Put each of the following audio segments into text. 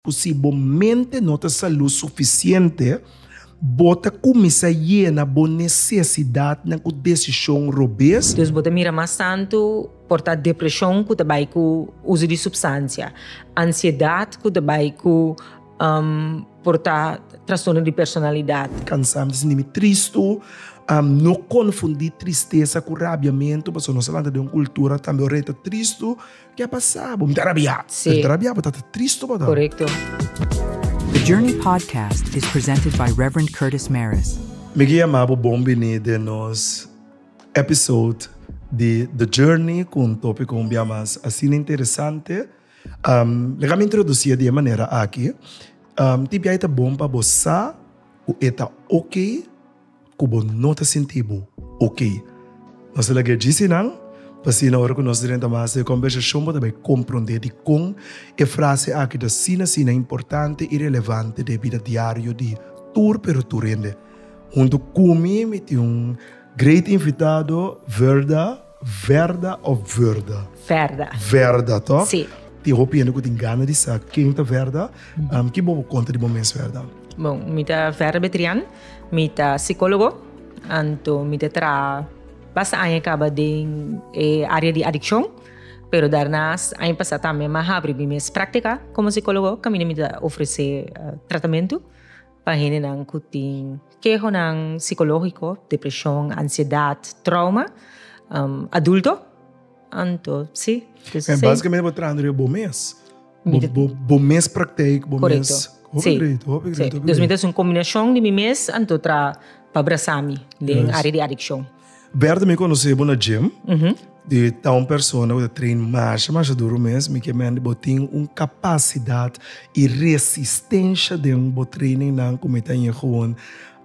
Cu si bo mente no ta salud suficiente, bo ta cuminsa yena bo necesidadnan cu decision robes. Dus bo ta mira mas tantu por ta depresion cu ta bay cu uso di substancia, ansiedad cu ta bay cu por ta trastorno di personalidad. Cansa mi sintimi tristu. No confundi tristeza cu rabiamento, pasobra nos a lanta den un cultura tambe ora e ta tristu Ke a pasá bo? Mi ta rabiá. Si. Mi ta rabiá bo, tata triste bo ta. Korekto. The Journey Podcast is presented by Rev. Curtis Mares. Mi ke yama bo bon biní den nos episode di The Journey ku un tópiko un bia mas asina interesante. Mi a introdusíe di e manera aki, tin biaha e ta bon pa bo sa ku e ta oke. ku bo no ta sinti bo ok. Nos ta laga disi nan, pa asina ora ku nos drenta mas e kombersashon bo ta bai komprondé dikon e frase aki ta asina asina importante i relevante den e bida diario di tur pero tur hende. Huntu ku mi mi tin un great invitado, Verda. Verda of vurda? Verda. Verda, toch? Si. Tin hopi hende ku tin gana di sa ken ta verda. Um, ki bo por konta di bo mes verda? Bon, mi ta Verda Betrian, mi ta psikólogo, anto mi ta traha basta aña kaba den e área di adikshon, pero dèrnás aña pasá tambe mi a habri mi mes práktika komo psikólogo kaminda mi ta ofresé tratamentu. Pa hendenan ku tin kehonan sikológiko, depreshon, ansiedat, trouma, adulto, anto si. Entonces si. Basikamente bo traha riba bo mes. Mi ta. Bo mes praktijk, bo mes. Korekto. Hopi great, hopi great, hopi great. Si. Entonces mi ta hasi un kombinashon di mi mes anto traha pa brasa mi den área di adikshon. Bertha mi conoce bo na gym. Mm -hmm. Di ta un persona que train masha masha duro mes. Mi que men bo tin un capacidad y resistencia den bo training nan cu mi ta yin gewoon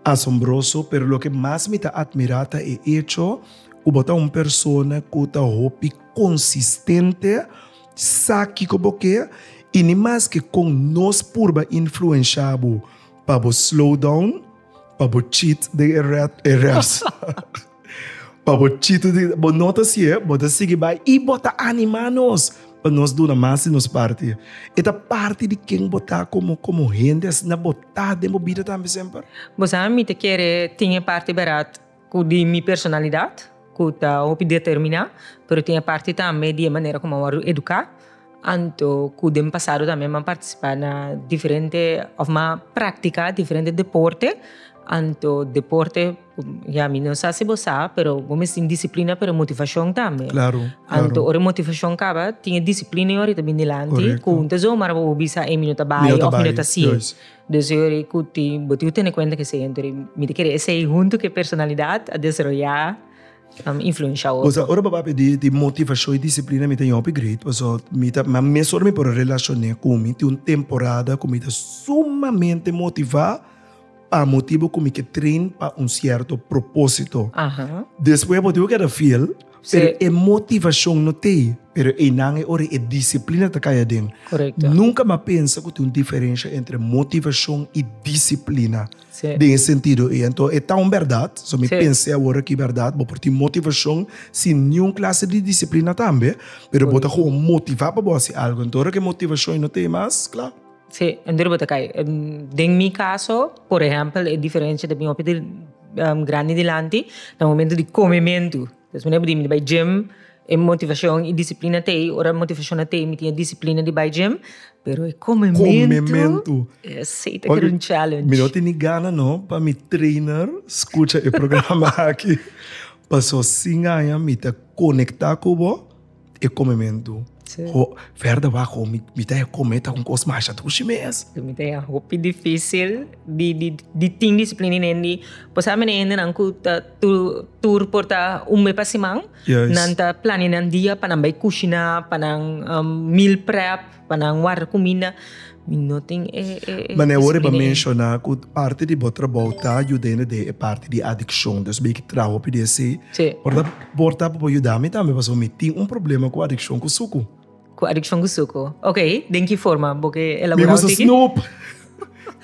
asombroso. Pero lo que mas mi ta admira ta e hecho cu bo ta un persona cu ta hopi consistente, sa kico bo ke y ni mas que con nos purba influencia bo pa bo slow down Pa bo cheat den e rat e race. pa bo cheat den bo no ta si e, bo ta sigui bai i bo ta anima nos pa nos duna mas di nos parti. E ta parti di ken bo ta como como hende asina bo ta den bo bida tambe semper. Bo sa mi ta kere tin e parti berat. Ku di mi personalidat, ku ta hopi determiná, pero tin e parti tambe di e manera kuma a wòrdu eduká, anto ku den pasado tambe mi a partisipá na diferente òf mi a praktiká diferente deporte, anto deporte ya mi no sa si bo sa, pero bo mes tin disiplina pero motivashon tambe, anto ora e motivashon kaba tin e disiplina yon a tabini dilanti ku bo ta zomaar bo bisa ei mi no ta bai òf mi no ta siei. Deseo ei ku tin, bo tin ku tene kuenta ku esei hende rei. Mi ta kere esei huntu ku e personalidat a desaroyá influensha otro. Pasobra ora bo a papia di motivashon i disiplina mi ta yopi great paso mi ta ma mes ora mi por a relashoné ku mi tin un temporada ku mi ta sumamente motivá pa motibu ku mi ke train pa un sierto propósito. Despues bo tin ku keda fiel. Pero e motivacion no ta ey, pero eynan e ora e disciplina ta cay aden. Correcto. Nunca m'a pensa cu tin un diferencia entre motivacion y disciplina den e sentido ey. Enton e ta un berdad, so mi pens'e awor aki berdad, bo por tin motivacion sin niun clase di disciplina tambe, pero bo ta gewoon motiva pa bo haci algo. Enton ora cu e motivacion ey no ta ey mas, cla. Sí, e debe ta kai. Den mi kaso, por ehèmpel, e diferensha ta bin hopi di grandi dilanti na momentu di komementu. Pasobra mi a bini, mi bai gim, e motivashon i disiplina ta ei. Ora motivashon no ta ei, mi tin e disiplina di bai gim, pero e komementu, esei ta kiri un challenge. Mi no tene gana no pa mi trainer skucha e programa aki, paso sin haña mi ta konektá ku bo. e komementu. Sí. Ho, ferda wak ho, mi, mi ta e kome, ta un kos masha dushi mes. Lo mi te hopi difícil di, di, di tin disiplina i nendi. Bo sabe mene hendenan ku ta tur, tur por ta un be pa siman. Juist. Nan ta plania nan dia pa nan bai kushina, pa nan um, meal prep. Pa nan warda cuminda mi no tin e disciplina. Mane awor e menciona cu parti di bo trabou ta yudende den e parti di adiccion. Dios bay ki traha hopi di ese. Si. Por porta pa bo yuda mi tambe pasobra mi tin un problema cu adiccion cu sucu. Cu adiccion cu sucu. Ok, den ki forma? Bo ke elabora un tiki? Mi gusta snoep.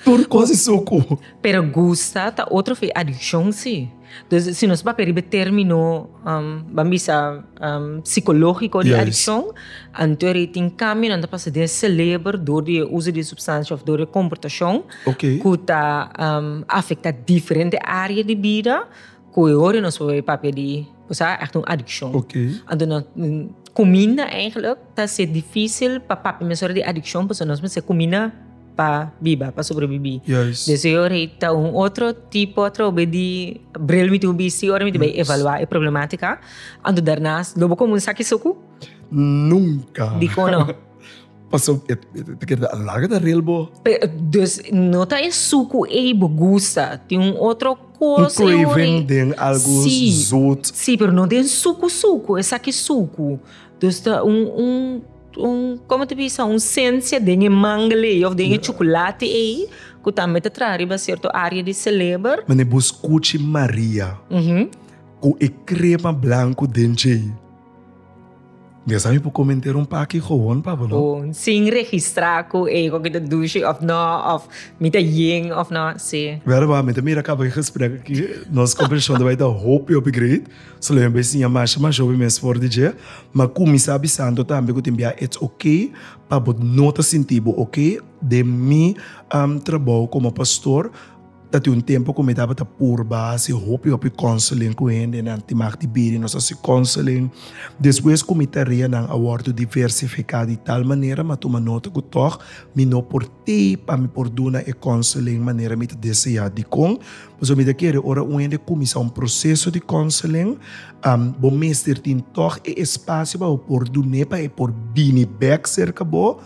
Tur cos e sucu. Pero gusta ta otro fe adiccion si. Dus si nos papia riba e termino um, ban bisa um, psicologico di Juist. adiccion, anto er ei tin cambio nan ta pasa den celebro door di e uso di e substancia of door di e comportacion Oké. cu ta um, afecta diferente area di bida. Cu e hoor nos hoor e papia di sa echt un adiccion. Okay. Anto nos cuminda eigenlijk ta ser dificil pa papia mesora di adiccion pasobra nos mester cuminda pa biba, pa sobrevivi. Juist. Dus e hoor ei ta un otro tipo atrobe di bril mi tuhu bisti ora mi ta bay evalua e problematica. Anto darnas lo bo comunsa cu eso cu? Nunca. Dicon no? Paso e ta kere ta larga ta rel bo. Dus no ta e suku ei bo gusta, tin un otro kos. Un craving den algu zoet. Si, si, pero no den suku suku, esaki suku. Dus ta un, un, un, como ta bisa, un sensia den e mangle ei of den e chocolate ei cu tambe ta traha riba cierto area di celeber. Mane bo scuchi Maria cu e crema blanco den djei. Di esaki por comenteer un paki gewoon pabo no? Bon, sin registra cu ego ki ta douche of no, of mi ta ying of no, si. Wèl wak, mi ta mira caba e gesprek aki, nos conversacion ta bai ta hopi hopi great, so lo mi a bai siña masha masha hopi mes for di dje, ma cuminsa avisando tambe cu tin bia it's ok pa bo no ta sinti bo ok den mi trabou como pastor, Ta tin un tempu ku mi tabata purba hasi hopi hopi konseling ku hendenan di mag di bida. Nos hasi konseling despues ku mi tareanan a wòrdu diversifiká di tal manera, mi a tuma nota ku tòg mi no por tei pa mi por duna e konseling manera mi ta deseá. Dikon? Pasobra mi ta kere ora un hende kuminsá un proseso di konseling, bo mester tin tòg e espasio pa bo por dun'é pa e por bini bèk serka bo.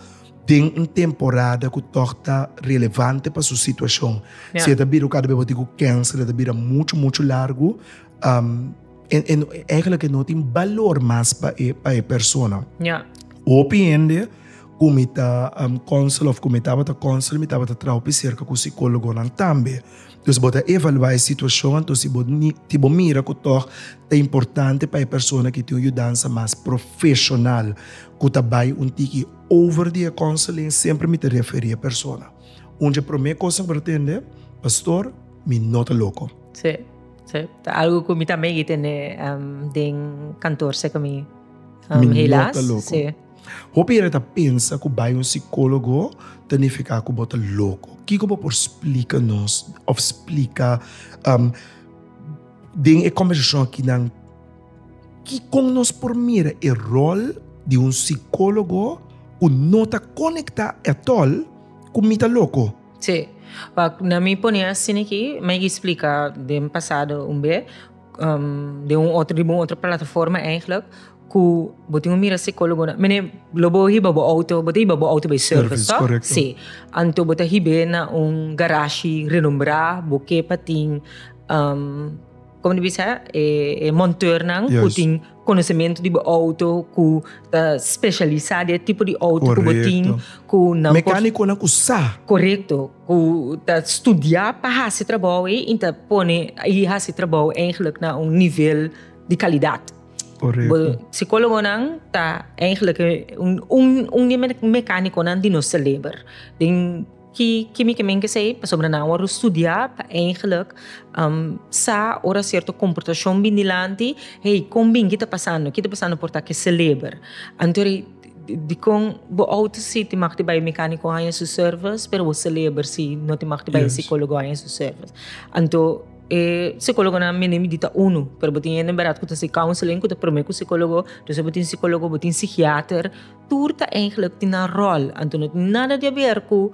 den un temporada ku tòg ta relevante pa su situashon. Yeah. Si e ta bira kada bes bo tin ku kènser, e ta bira muchu, muchu largu. Um, en, en, eigenlijk e no tin balor mas pa e, pa e persona. Yeah. Hopi hende ku mi ta um, counsel of ku mi tabata counsel, mi tabata traupi serka ku psikólogonan tambe. Entonces bo ta evaluá e situacion anto si bo ti bo mira cu tog ta importante pa e persona ki tin un yudansa mas profesional cu ta bay un tiki over di e counseling semper mi ta referi e persona. Un dje prome cos mi por tende, Pastor, mi no ta loco. Sí, sí. Ta algo cu mi tambe y'i tende den kantoor seke mi, helaas. Mi no ta loco. Sí. Hopi hende ta pensa ku bai un sikólogo ta nifiká ku bo ta loko. Kiko bo por splika nos òf splika den e kòmbersashon akinan kikon nos por mira e ròl di un sikólogo ku no ta konektá atòl ku mi ta loko? Sí, pa na mi pone asina aki, mi a splika den pasado un be. um, den un otro, riba un otro plataforma eigenlijk, cu bo tin un mira psicólogo, mene lo bo hiba bo auto, bo te hiba bo auto bij service, toch? Correcto. Sí. Anto bo te hibe na un garage renombrá, bo kepa tin, um, como dice, eh, eh, monteurnan, cu tin Konosementu di bo outo ku ta spesialisá di e tipo di outo ku bo tin. Korekto. Mekánikonan ku sa. Korekto. Ku ta studiá pa hasi trabou ei i ta pone i hasi trabou eigentlik na un nivel di kalidat. Korekto. Bo sikólogonan ta eigentlik un un un di e mekánikonan di nos selebra den. Ki kimikemente esei? Pasobra nan a wòrdu studiá pa eingelik sa ora sierto komportashon bin dilanti, hey, kon bin? Ki ta pasando? Ki ta pasando por ta ke seleber? Anto di dikon bo a outo si tin mag di bai e mekaniko haña su sèrvis, pero bo seleber si no tin mag di bai e sikólogo haña su sèrvis? Anto e sikólogonan mende mi di ta unu, pero bo tin hende bèrèt ku ta hasi counseling ku ta promé ku sikólogo, despues bo tin sikólogo, bo tin sikiater. Tur ta eigenlijk tin nan rol, anto no tin nada di haber cu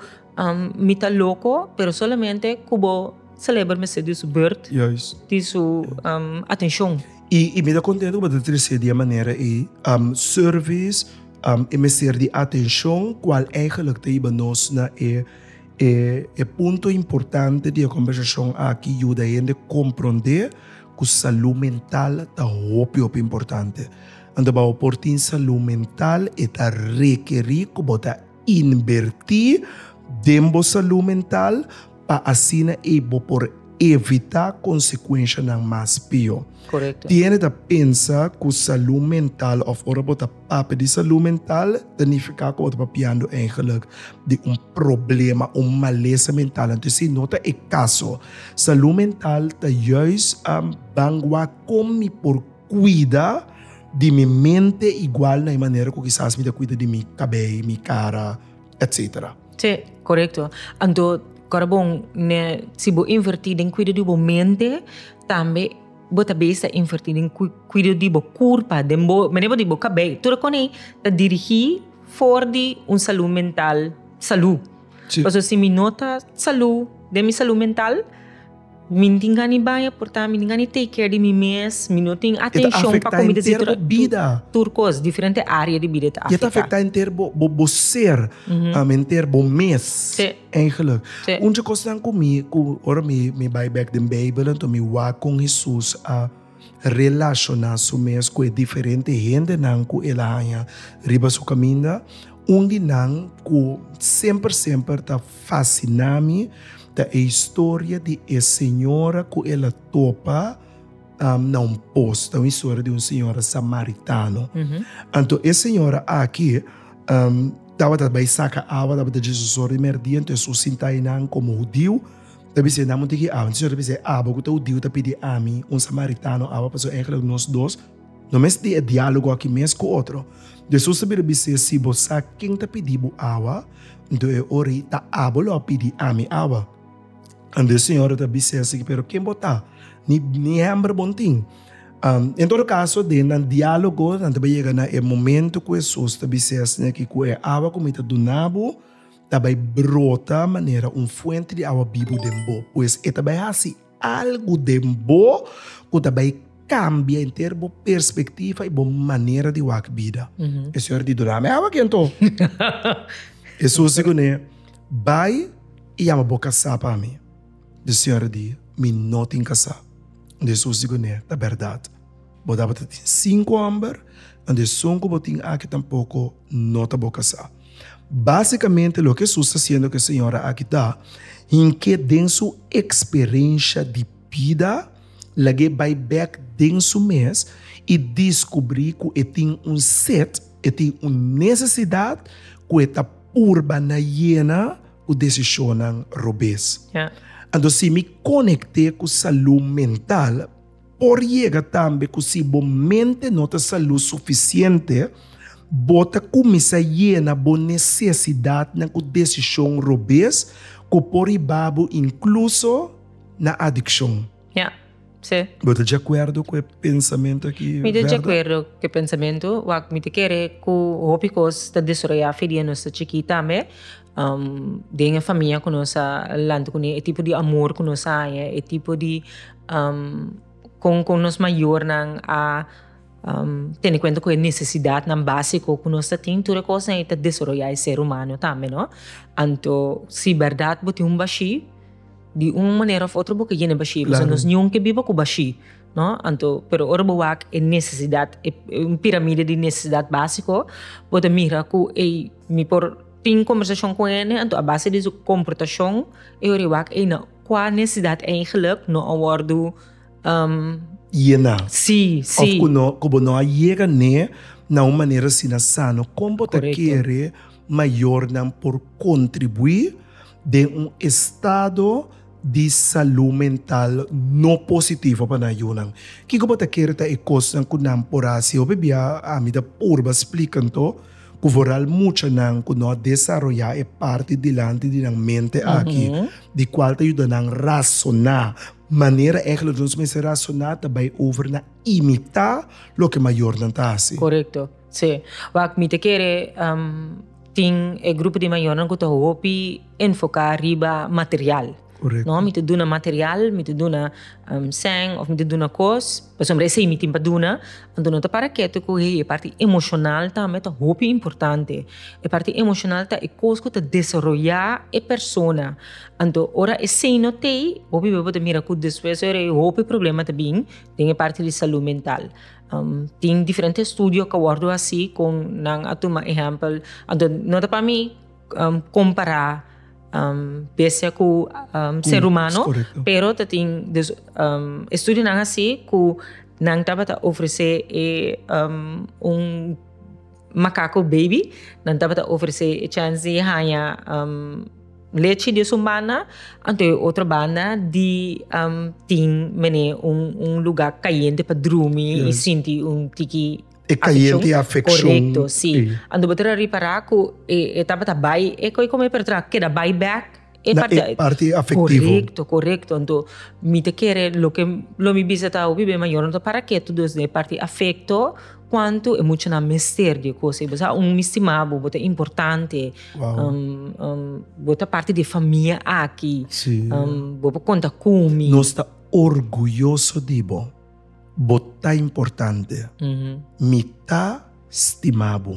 mi ta loco, pero solamente cu bo celebra mester di su beurt, di su atencion. Y mi ta contento cu bo ta trece di e manera ey, service, e mester di atencion, cual eigenlijk ta yiba nos na e punto importante di e conversacion aki, yuda hende comprende cu salud mental ta hopi hopi importante. Anto bou por tin salú mental, e ta rekerí ku bo ta inbertí den bo salú mental pa asina ei bo por evitá konsekuenshanan mas pió. Korekto. Tiene ta pensa ku salú mental òf ora bo ta papia di salú mental ta nifiká ku bo ta papiando èigelik di un problema, un malesa mental. Anto esei no ta e kaso. Salú mental ta juis ban wak kon mi por. kuida di mi mente igual na e manera ku kisas mi ta kuida di mi kabei, mi kara, etsetera. Sí, korekto. Anto kor bon ne si bo invertí den kuida di bo mente, tambe bo ta bes ta invertí den kuida di bo kurpa, den bo manera di bo kabei. Tur akon ei ta dirigí for di un salú mental salú. Pasobra si mi no ta salú den mi salú mental. Mi tin gani baya porta, mi tin gani take care di mi mes, mi no tin atencion pa comida si tur tur cos, diferente area di bida ta afecta. Y ta afecta enter bo bo ser, enter bo mes eigenlijk. Un dje cosnan cu mi cu ora mi mi bay bek den bijbel anto mi wak con Hesus a. relashoná su mes ku e diferente hendenan ku el a haña riba su kaminda. Un di nan ku semper semper ta fasiná mi ta e historia di e señora ku el a topa na un pos. Ta un historia di un señora samaritano. Anto e señora aki tabata bai saka awa, tabata dje su sòru di mèrdia, anto e su sintainan komo hudiu. Ta bisa e, nan mo tigi awa. Enton Señor a bisa e, Abo cu ta hudiu ta pidi Ami un samaritano awa? Pasobra eigenlijk nos dos no mes tin e dialogo aki mes cu otro. Jesus a bira bisa e, Si bo sa ken ta pidi bo awa, enton e ora ei ta abo lo a pidi Ami awa. Anto e Señor a bisa e a sigui, Pero ken bo ta? Ni hember bon tin? En todo caso, den nan dialogo nan ta bay yega na e momento cu Jesus ta bisa e, Asi aki cu e awa cu Mi ta duna bo, ta bai brota manera un fuenti di awa bibu den bo. Pues e ta bai hasi algu den bo ku ta bai kambia enter bo perspektiva i bo manera di wak bida. E señor di, Duna mi awa aki anto. Hesus di kuné, Bai i yama bo kasá pa mi. Di señor di, Mi no tin kasá. Hesus di kuné, Ta bèrdat. Bo tabata tin sinku hòmber, anto e son ku bo tin aki tampoko no ta bo kasá. Básikamente loke Hesus ta hasiendo ku e señora aki ta, hink'é den su eksperensha di bida, lag'é bai bèk den su mes i diskubrí ku e tin un set, e tin un nesesidat ku e ta purba na yena ku desishonnan robes. Anto si mi konekté ku salú mental. Por yega tambe ku si bo mente no ta salú sufisiente, bo ta kuminsá yena bo nesesidatnan ku desishon robes ku por riba bo inkluso na adikshon. Ya. Sí. Bo ta djakuerdo ku e pensamentu akí, Verde? Mi ta djakuerdo ku e pensamentu. Wak, mi ta kere ku hopi kos ta desaroyá afe dia nos ta chikí tambe. Den e famia ku nos a lanta kuné, e tipo di amor ku nos a haña, e tipo di kon kon nos mayornan a tene kuenta ku e nesesidatnan básiko ku nos ta tin, tur e kosnan ei ta desaroyá e ser humano tambe no. Anto si bèrdat bo tin un bashí, di un manera òf otro bo ke yende bashí, pasobra nos niun ke biba ku bashí, no, anto pero ora bo wak e nesesidat, un piramide di nesesidat básiko bo ta mira ku ei mi por Tin kombersashon ku hende, anto a base di su komportashon e ora i wak ei na kua nesesidat eigenlik no a wòrdu llená. Sí, sí. Òf ku no, ku bo no a yega ne na un manera asina sano. Kon bo ta kere mayornan por kontribuí den un estado di salú mental no positivo pa nan yunan? Kiko bo ta kere ta e kosnan ku nan por hasi? Hopi bia ami ta purba splika anto. Ku vooral muchanan ku no a desaroyá e parti dilanti di nan mente aki, di kual ta yuda nan rasoná. Manera ègèlè nos mester rasoná ta bai over na imitá loke mayornan ta hasi. Korekto, sí. Wak, mi ta kere tin e grupo di mayornan ku ta hopi enfoká riba material. No, mi ta duna material, mi ta duna sèn òf mi ta duna kos pasobra esei mi tin pa duna. Anto no ta para ketu ku e parti emoshonal tambe ta hopi importante. E parti emoshonal ta e kos ku ta desaroyá e persona. Anto ora esei no tei hopi boi bo ta mira ku despues ora e hopi problema ta bin den e parti di salu mental. Tin diferente estudio ku a wòrdu hasi kon nan a tuma ehèmpel anto no ta pa mi. compara bestia cu ser humano, pero ta tin dus estudionan a haci cu nan tabata ofrece e un macaco baby, nan tabata ofrece e chance di haya lechi di esun banda, anto e otro banda di tin mene un lugar cayente pa drumi y sinti un tiki E cayente y afeccion. Correcto, si. Ando bo ta ra ripara cu e, e tabata bay, e coy como e pertra, keda bay bek. E Na e parti afectivo. Correcto, correcto. Anto, mi ta kere, loke, lo mi bisa ta, hopi ben mayornan ta para ketu dos den e parti afecto, cuanto e muchanan mester di e cosa. Y bo sa, un mi stima bo, bo ta importante. Wow. bo ta parti di e famia aki. Si. bo por conta cu mi. Nos ta orguyoso di bo. Bo ta importante. Mi ta stima bo.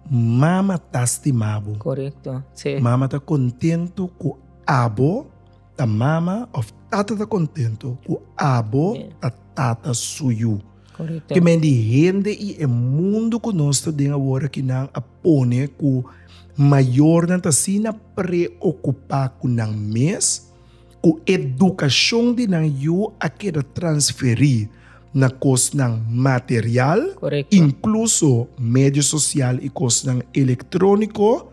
Mama ta stima bo. Korekto, sí. Mama ta kontentu ku abo ta mama òf tata ta kontentu ku abo ta tata suyu. Korekto. Te men di hende i e mundu ku nos ta den awor aki nan a pone ku mayornan ta asina preokupá ku nan mes. Ku edukashon di nan yu a keda transferí na kosnan material, inkluso medio sosial i kosnan elektróniko,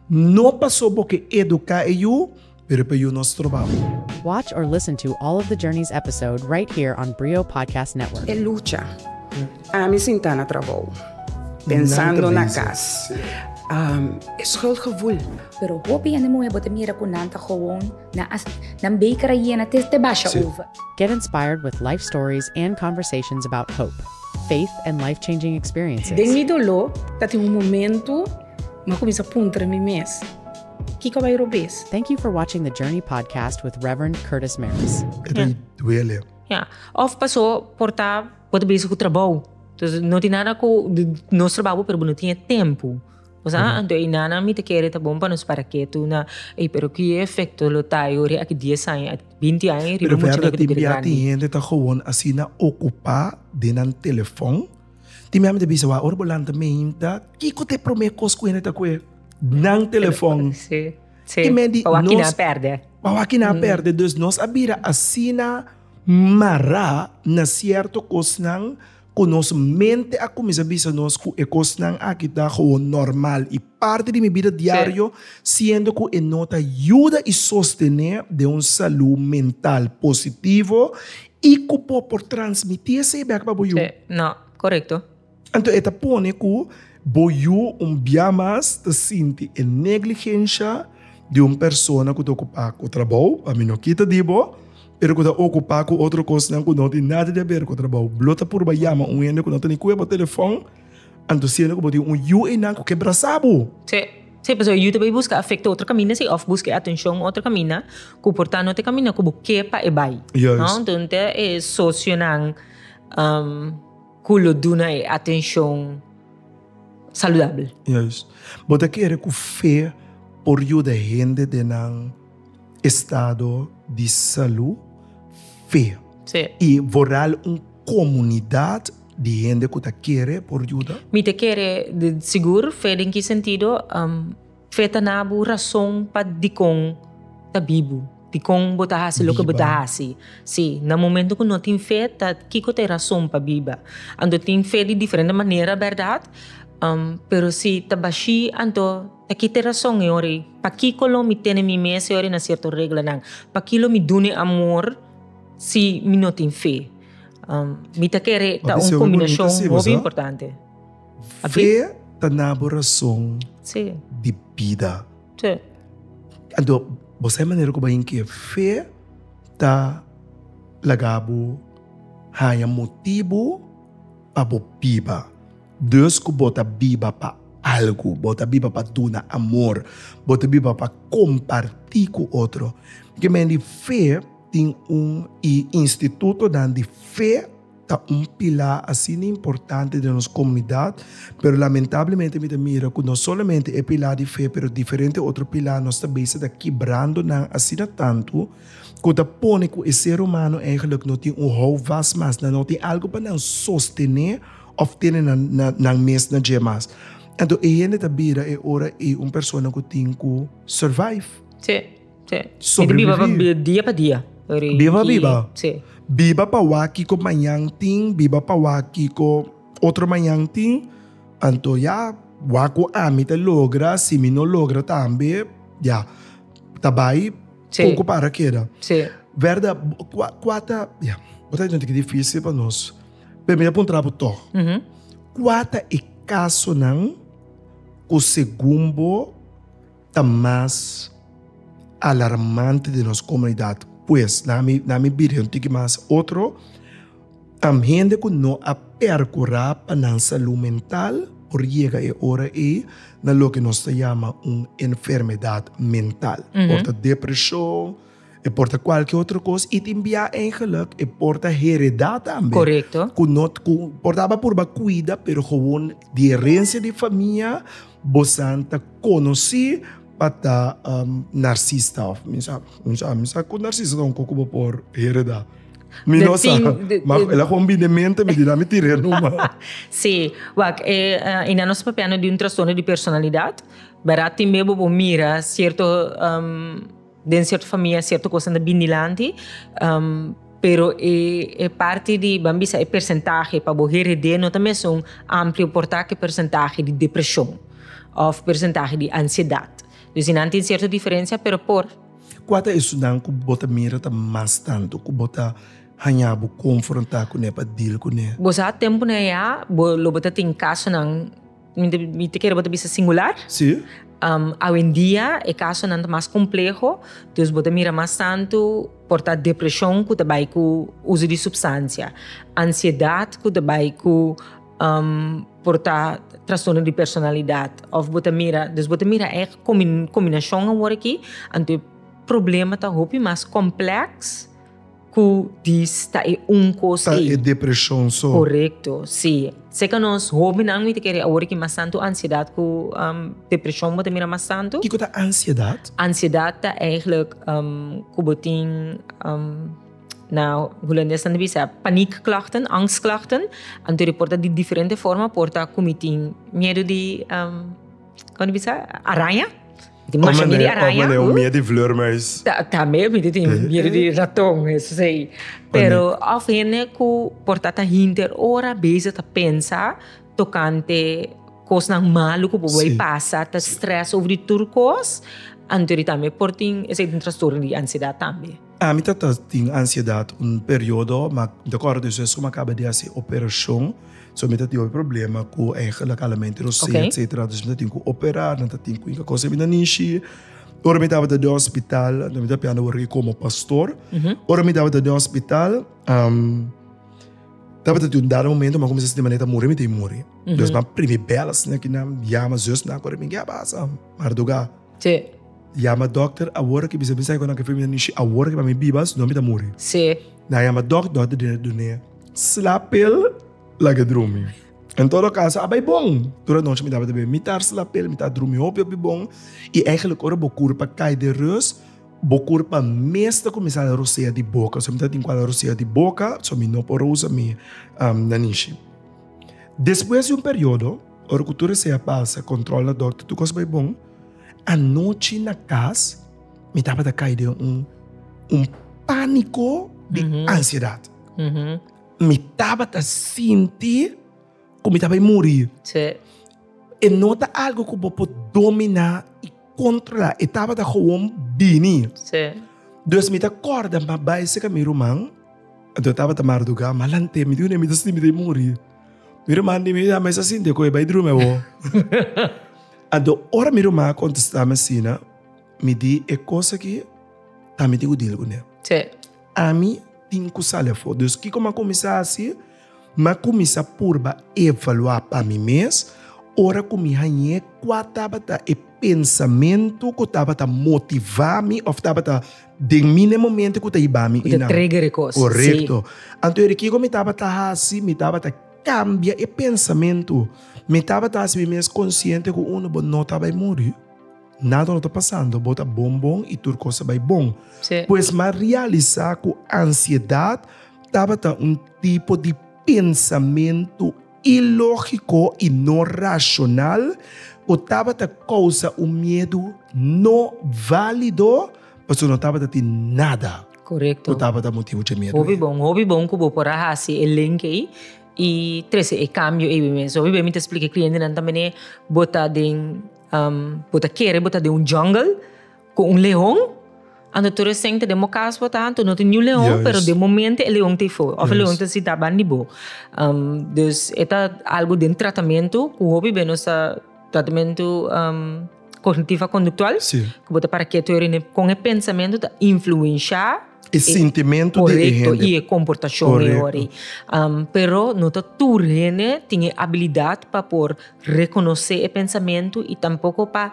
no paso bo ke eduká e yu, pero pa e yu no stroba bo. Watch or listen to all of the Journeys episode right here on Brio Podcast Network. E lucha. Ami sinta na trabou. Pensando na cas. E schuldgevoel. Pero hopi hende muhe bo ta mira cu nan ta gewoon, nan a nan beker a yena te te basha over. Get inspired with life stories and conversations about hope, faith and life-changing experiences. Den mi dolo ta tin un momento ma cuminsa puntra mi mes, Kico a bay robes? Thank you for watching the Journey Podcast with Reverend Curtis Maris. E ta duele. Of paso por ta. Bo ta besi ku trabou. Entonces no tin nada ku nos trabou bo pero bo no tin e tempu. Nos a anto ei nannan mi ta kere ta bon pa nos para ketu na ei pero ku e efekto lo ta ei ora aki dies aña, aki binti aña riba mucha nepe ta bira grandi. Pero tin bia hende ta gewoon asina okupá den nan telefòn. Tin mia mi ta bisa wou ora bo lanta meinta kiko ta e promé kos ku hende ta kue? Nan telefòn. Ki mei di nos. Pa wak kina pèrdè. Pa wak kina pèrdè. Dus nos a bira asina. Mará na sierto kosnan ku nos mente a kuminsá bisa nos ku e kosnan aki ta gewoon normal i parti di mi bida diario, siendo ku e no ta yuda i sostené den un salú mental positivo i ku bo por transmití esei bèk pa bo yu. Sí, no, korekto. Anto e ta pone ku bo yu un bia mas ta sinti e negligensha di un persona ku ta okupá ku trabou, pa mi no kita di bo, pero ku ta okupá ku otro kosnan ku no tin nada di aber ku trabou. Bo lo ta purba yama un hende ku no ta ni kue bo telefòn, anto siendo ku bo tin un yu einan ku ke brasá bo. Sí, sí, pasobra e yu ta bai buska afekto otro kaminda si òf buska e atenshon otro kaminda ku por ta no te kaminda ku bo ke pa e bai. Juist. Nton ta e sosionan. Ku lo duna e atenshon saludabel. Juis. Bo ta kere ku fe por yuda hende den nan estado di salu feo? Sí. I voral un komunidat di hende ku ta kere por yuda? Mi ta kere sigur. Fe den ki sentido? Feta na bo rason pa dikon ta bibu, dikon bo ta hasi loke bo ta hasi. Sí, na momento ku no tin fe, ta kiko ta e rason pa biba? Anto tin fe di diferente manera, bèrdat? Pero si ta bashí, anto ta ki ta e rason e ora ei? Pakiko lo mi tene mi mes e ora ei na sierto reglanan? Pakí lo mi duna e amor si mi no tin fe? Mi ta kere ta un kombinashon hopi importante. Fe ta na bo rason di bida. Anto, bo sa e manera ku bo a yin ke fe ta laga bo haña motibu pa bo biba. Des ku bo ta biba pa algu, bo ta biba pa duna amor, bo ta biba pa kompartí ku otro. Ke men di fe tin un, i institutonan di fe. ta un pilá asina importante den nos komunidat, pero lamentablemente mi ta mira ku no solamente e pilá di fe pero diferente otro pilá nos ta bisa ta kibrando nan asina tantu ku ta pone ku e ser humano eigenlijk no tin un houvast mas, nan no tin algu pa nan sostené òf tene nan mes na dje mas. Anto e hende ta bira e ora ei un persona ku tin ku survive. Sí. Sí. Sobreviví. Di biba pa dia pa dia. Biba pa biba. Sí. Biba pa wak kiko mañan tin, biba pa wak kiko otro mañan tin. Anto ya, wak ku ami ta logra, si mi no logra tambe, ya, ta bai poco para keda. Sí. Werda, kua, kua ta, ya, bo ta yente ke difícil pa nos. Pero mi ta puntra bo tog. Kua ta e casonan ku segun bo. ta mas alarmante den nos komunidat pues na mi na mi bira un tiki mas otro tam hende ku no a perkurá pa nan salú mental por yega e ora ei na loke nos ta yama un enfermedad mental por ta depreshon. E por ta kualke otro kos. I tin bia eingelik e por ta heredá tambe. Korekto. Ku no, ku por ta aba purba kuida, pero gewoon di herensia di famia bosan ta konosí pa ta narsista. Òf mi sa, mi sa, mi sa ku narsista ta un kos ku bo por heredá. Mi no sa, ma el a gewoon bini den mente mi di dami tira e numa. Sí, wak, e aintá nos ta papia di un trastorno di personalidat, bèrdad? Tin bo por mira sierto. Den cierto famia cierto cosnan ta bini dilanti pero e parti di ban bisa e percentahe pa bo herede no ta mesun amplio por ta ke percentahe di depresion of percentahe di ansiedad. Dus di nan tin cierto diferencia pero por. Cua ta esunnan cu bo ta mira ta mas tanto cu bo ta haña bo confronta cune pa deal cune? Bo sa temponan ya bo lo bo ta tin casonan. Mi ta kere bo ta bisa singular. Sí. Awendia e kasonan ta mas kompleho, dus bo ta mira mas tantu por ta depreshon ku ta bai ku uso di supstansia, ansiedat ku ta bai ku por ta trastorno di personalidat òf bo ta mira, dus bo ta mira e kombinashon awor aki anto e problema ta hopi mas komplèks. Cu dis ta e un cos Ta ey. e depresion so. Corecto, si. Seca nos hobennan mi ta kere awor aki mas tanto ansiedad cu depresion bo ta mira mas tanto. Kico ta ansiedad? Ansiedad ta eigenlijk cu bo tin, na Hulandes nan ta bisa paniekklachten, angstklachten. Anto e por ta di diferente forma, por ta cu mi tin miedo di, como ta bisa? Araña. tin masha miedu di araña. Ome un miedu di vleurmuis. Tambe mi tin tin miedu di raton esei. Pero of hende ku por ta ta hinter ora bezig ta pensa tokante kosnan malu ku por bai pasa, ta stress over tur kos, anto di tambe por tin esei tin trastorno di ansiedat tambe. Ami ta ta tin ansiedat un periodo, ma mi ta kòrda di esei suma kaba di hasi operashon, so mi ta tin hopi problema ku eigenlijk alamente rosé Ok. etsetera, dus mi ta tin ku operá, nan ta tin ku yeka kos den mi ta nishi. Ora mi tabata den hospital, mi ta pian wòrdu komo pastor, ora mi tabata den hospital, tabata tin un dado momento mi a kuminsá sinti manera mi ta muri, mi ta i muri. Dòs mi a primi bèl asina kinan, yama zesnan ku a rimi, ke a pasa? Mardugá. Tje. Yama dokter awor ki bisa mi sai ku nan ke feminan nishi awor ki pa mi bibas no mi ta muri. Tje. Nan yama dok dok ta dina dunea. Slapel laga e drumi. En todo kaso a bai bon. Tur anochi mi tabata bebe mitar slapel mi ta drumi hopi hopi bon i eigenlijk ora bo kur pa kai den rus bo kur pa mes ta kuminsá ta rosea di boka so mi ta tin ku a ta rosea di boka so mi no por a usa mi nanishi. Despues di un periodo. Ora ku tur esei a pasa, kòntròl na dòkter, tur kos bai bon. Anochi na kas mi tabata kai den un pániko di ansiedat. Mi tabata sinti ku mi ta bai muri. E no ta algu ku bo por dominá i kontrolá. E tabata gewoon bini. Dus mi ta kòrda, mi bai seka mi ruman, anto tabata mardugá, mi a lant'é, mi di un'é mi ta sinti mi ta muri. Mi ruma di mi, mesa sinti cu e bai drumi awo. Anto, ora mi ruma a contesta mi asina, mi di e cos aki ta mi tin cu deal cu ne. Sí. Ami tin cu sali afo. Dus kico m'a cuminsa haci? M'a cuminsa purba evalua pa mi mes ora cu mi hañ'é cua tabata e. pensamentu ku tabata motivá mi òf tabata den mi na e momentu ku ta hiba mi i nan. Ku ta trigger e kos. Korekto. Sí. Anto era kiko mi tabata hasi, mi tabata kambia e pensamentu. Mi tabata hasi mi mes konsiente ku unu, bo no ta bai muri. Nada no ta pasando. Bo ta bon bon i tur kos a bai bon. Sí. Pues m'a realisá ku ansiedat tabata un tipo di pensamentu. ilógiko i no rashonal o tabata kousa un miedu no válido pasobra no tabata tin nada ku tabata motibu dje miedu ei. Hopi bon, hopi bon ku bo por a hasi e link ei i trese e kambio ei biben. So hopi bes mi ta splika e klientenan tambe bo ta den bo ta kere bo ta den un jungle, Cu un leon? Anto tur esén ta den bo cas bo ta anto no tin niun leon, Juist. pero den momento e leon ta ei for, of e leon ta si taban di bo. Um, dus e ta algo den tratamento cu hopi bey nos ta tratamento um cognitivo conductual, Sí. cu bo ta para ketu eri ne con e pensamento ta influencia E sintimento di e correcto hende. y e comportacion e Correcto. ori. Um, pero no ta tur hende tin e habilidad pa por reconoce e pensamento y tampoco pa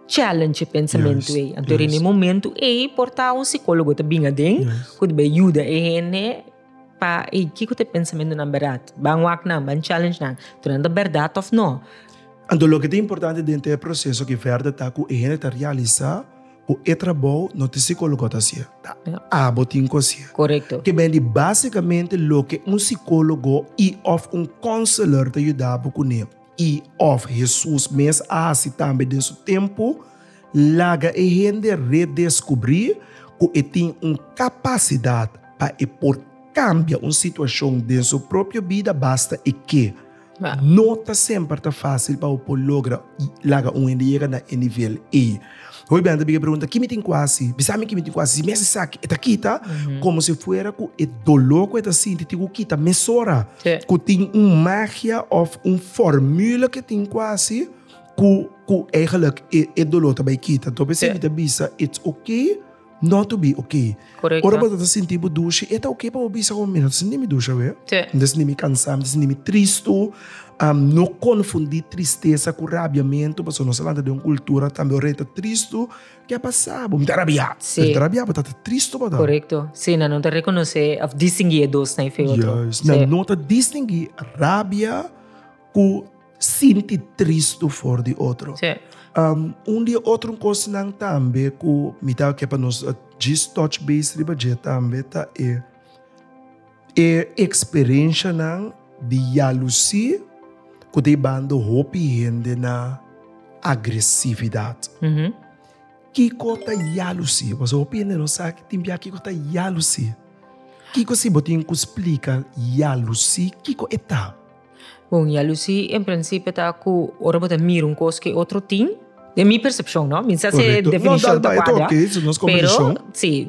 challenge e pensamentu ei. Anto yes. e momento ei por ta un psicólogo te bin aden, yes. ku be ayuda e hende pa ei kiko te pensamiento nan berat. Ban wak nan, ban challenge nan. Tu nan ta berat of no. Anto lo ke te importante den te proceso ki verda ta ku e hende ta realisa ku e trabou no te psicólogo ta hacié, ta yeah. abo tin ku hacié. Correcto. Ke ben di básicamente lo ke un psicólogo i of un counselor ta yudabo kuné. I òf Hesus mes a hasi tambe den su tempu, laga e hende redeskubrí ku e tin un kapasidat pa e por kambia un situashon den su propio bida basta e ke. No ta semper ta fásil pa bo por logra laga un hende yega na e nivel ei. Hopi bende ta big'e pregunta, Ki mi tin ku hasi? Bisa mi ki mi tin ku hasi? Si mes esaki e ta kita, komo si fuera ku e doló ku e ta sinti tin ku kita mesora? Ku tin un magia òf un fòrmula ku e tin ku hasi ku ku eigentlik e doló ta bai kita? Anto mi ta bisa, It's ok. No to be ok. Correcto. Ora bo ta sinti bo dushi, e ta ok pa bo bisa como, mira, no ta sinti mi dushi awe. Sí. No ta sinti mi cansa, no ta sinti mi tristo. Um, no confundi tristesa cu rabiamento, pasobra nos a lanta den un cultura tambe ora e ta tristo, ke a pasa bo? Mi ta rabia. Sí. Pero no ta rabia, bo ta ta tristo bo ta. Correcto. Sí, nan no ta reconoce of distingui e dos na efecto. Juist. Sí. Nan no ta distingui rabia cu. Sinti tristu for di otro. Sí. Un di e otro cosnan tambe cu mi ta kier pa nos djis touch base riba dje tambe ta e e experenshanan di yalusi cu ta jibando hopi hende na agresividad. Kico ta yalusi? Pasobra hopi hende no sa tin bia kico ta yalusi. Kico si bo tin cu splica yalusi kico e ta? Bon, yalusí en prinsipio ta ku ora bo ta mira un kos ku e otro tin, den mi persepshon no, mi no sa si e definishon ta kuadra, pero si,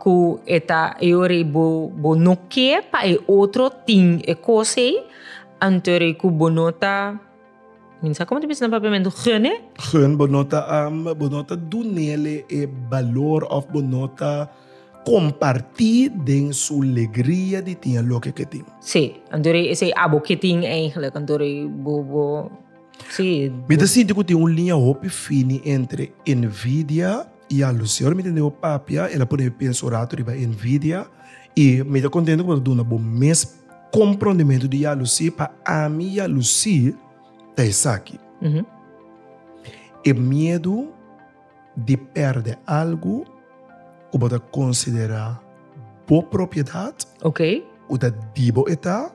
ku e ta e ora bo no ke pa e otro tin e kos ei, anto ora ei ku bo no ta. Min sa como ta bisa na papiamento gun e. Gun bo no ta am bo no ta do nele e balor of bo no ta comparti den su legria di tin loke ke tin. Si, anto e esey abo ke tin eigenlijk, anto bo bo si. Mi ta sinti cu tin un liña hopi fini entre envidia y alusion. Ora mi tende bo papia el a pone mi pensa un rato riba envidia y mi ta contento cu bo ta duna bo mes. Comprondementu di ya Lucie, pa ami ya Lucie ta esaki, e miedu di perde algu cu bo ta considera bo propiedad, cu ta di bo eta,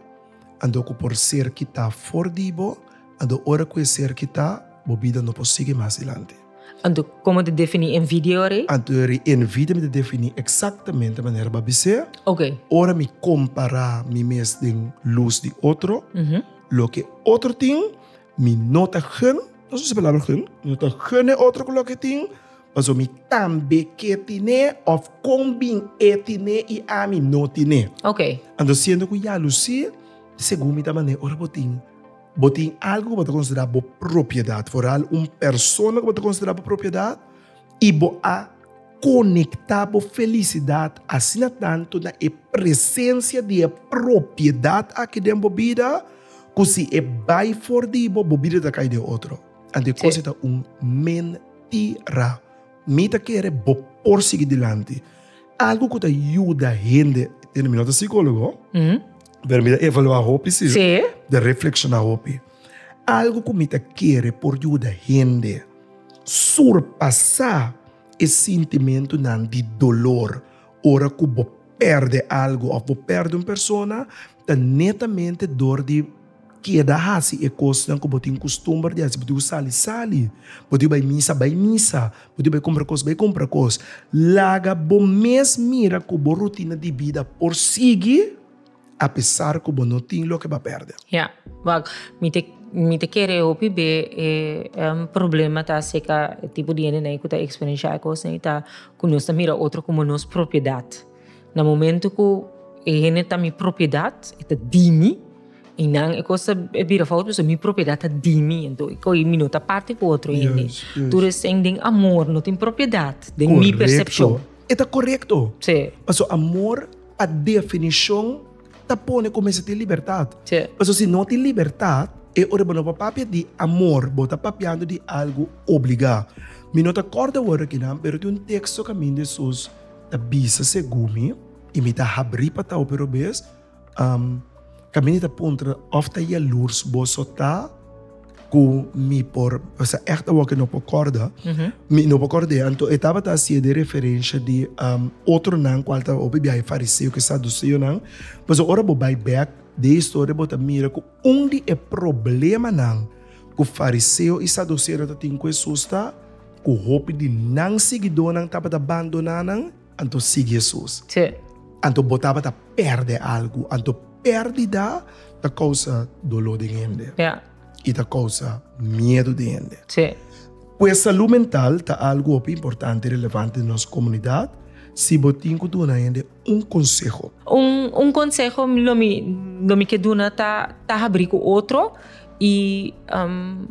anto cu por ser kita for di bo, anto ora cu e ser kita, bo bida no por sigui mas dilanti. Anto, komo ta definí envidia ora ei? Anto ora ei envidia mi ta definí eksaktamente manera bo a bis'é. Oke. Ora mi kompará mi mes den lus di otro, loke otro tin, mi no ta gen, nos usa e palabra gen, mi no ta gen e otro ku loke e tin, pasobra mi tambe ke ten'é òf kon bin e ten'é i ami no ten'é. Oke. Anto siendo ku ya a lusí segun mi ta manera ora bo tin. Bo tin algu ku bo ta konsiderá bo propiedat, foral un persona ku bo ta konsiderá bo propiedat, i bo a konektá bo felisidat asina tantu na e presensia di e propiedat akí den bo bida ku si e bai for di bo, bo bida ta kai den otro. Anto e kos ei ta un mentira. Mi ta kere bo por sigui dilanti. Algu ku ta yuda hende, mi no ta sikólogo. Pero mi ta evaluá hopi, si. Sí. Ta reflekshoná hopi. Algu ku mi ta kere por yuda hende surpasá e sintimentunan di dolor ora ku bo pèrdè algu òf bo pèrdè un persona ta netamente dor di. Keda hasi e kosnan ku bo tin kustumber di hasi. Bo tin ku sali, sali. Bo tin ku bai misa, bai misa. Bo tin ku bai kumpra kos, bai kumpra kos. Laga bo mes mira ku bo rutina di bida por sigui apesar ku bo no tin loke pa pèrdè. Ya, wak. Mi ta mi ta kere hopi be e problema ta aserka e tipo di hendenan ku ta eksperensiá e kosnan ei ta ku nos ta mira otro komo nos propiedat. Na momentu ku e hende ta mi propiedat, e ta di mi, i nan e kos ta bira fout pasobra mi propiedat ta di mi. Anto e kohe mi no ta parti ku otro hende. Yes, yes. Tur esei den amor no tin propiedat, den mi persepshon. Korekto. E ta korekto. Sí. Paso amor pa definishon ta pone ku mester tin libertat. Sí. Paso si no tin libertat, e ora bo no por papia di amor, bo ta papiando di algu obligá. Mi no ta kòrda wòrdu akinan, pero tin un teksto kaminda Hesus. ta bisa segumi y mi ta habri pa tao pero bes um caminda ta puntra of ta yalurs boso ta cu mi por esa echte awor que no por corda uh -huh. mi no por corda anto e tabata así de referencia de um otro nan cual ta obi biaje fariseo que saduceo nan pues ora bo bai back de historia bo ta mira cu Un di e problemanan ku fariseo i saduseonan tatin ku Hesus ta ku hopi di nan siguidónan tabata bandoná nan anto sigui Hesus. Anto bo tabata pèrdè algu. Anto pèrdida ta kousa doló den hende i ta kousa miedu den hende. Pues salú mental ta algu hopi importante i relevante den nos komunidat. Si bo tin ku duna hende un conseho. Un un conseho lo mi lo mi ke duna ta ta habri ku otro i um,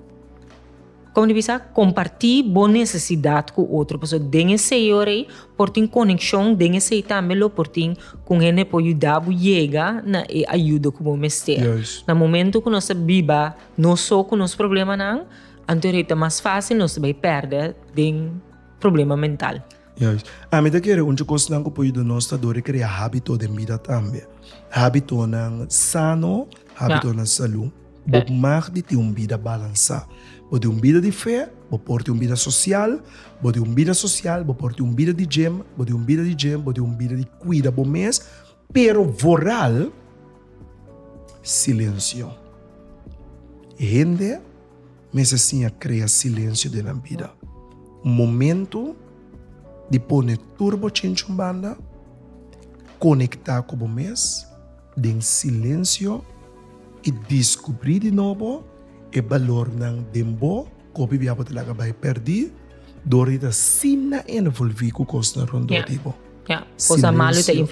como di bisa comparti bo necesidad ku otro paso den esei ora ei por tin conexion den esei tambe lo por tin con hende por yuda bo yega na e ayudo ku bo mester yes. na momento ku nos ta biba nos so ku nos problemanan anto rei ta mas fácil nos ta bai perde den problema mental. Juis. Ami ta kere un di kosnan ku por yuda nos ta dor e krea hábito den bida tambe. Hábitonan sano, hábitonan salú. Bo mag di tin un bida balansá. Bo di un bida di fe, bo por tin un bida sosial, bo di un bida sosial, bo por tin un bida di djem, bo di un bida di djem, bo di un bida di kuida bo mes, pero vooral silensio. Hende. Mester siña krea silensio den nan bida. Un momentu di pone tur bo chinchun banda, konektá ku bo mes den silensio i diskubrí di nobo e balornan den bo ku hopi bia bo ta laga bai pèrdí dor di ta asina envolví ku kosnan rondó di bo. Silensio,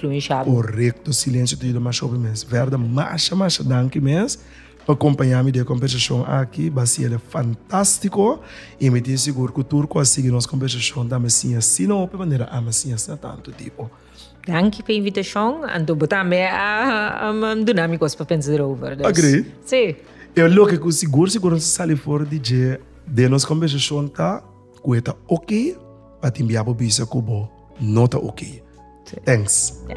korekto, silensio ta yuda masha hopi mes. Verda, masha masha danki mes. Pa kompañá mi den e kombersashon aki Baciele fantastiko i mi tin sigur ku tur ku a sigui nos kombersashon ta mester siña asina hopi manera a mester siña asina tantu dibo. Danki pa invitashon, anto bo tambe a duna mi kos pa pensa derover, dus. Agree. Sí. E loke ku sigur sigur a sali for di dje den nos kombersashon ta ku e ta oke pa tin bia bo bisa ku bo no ta oke. Thanks. Ya.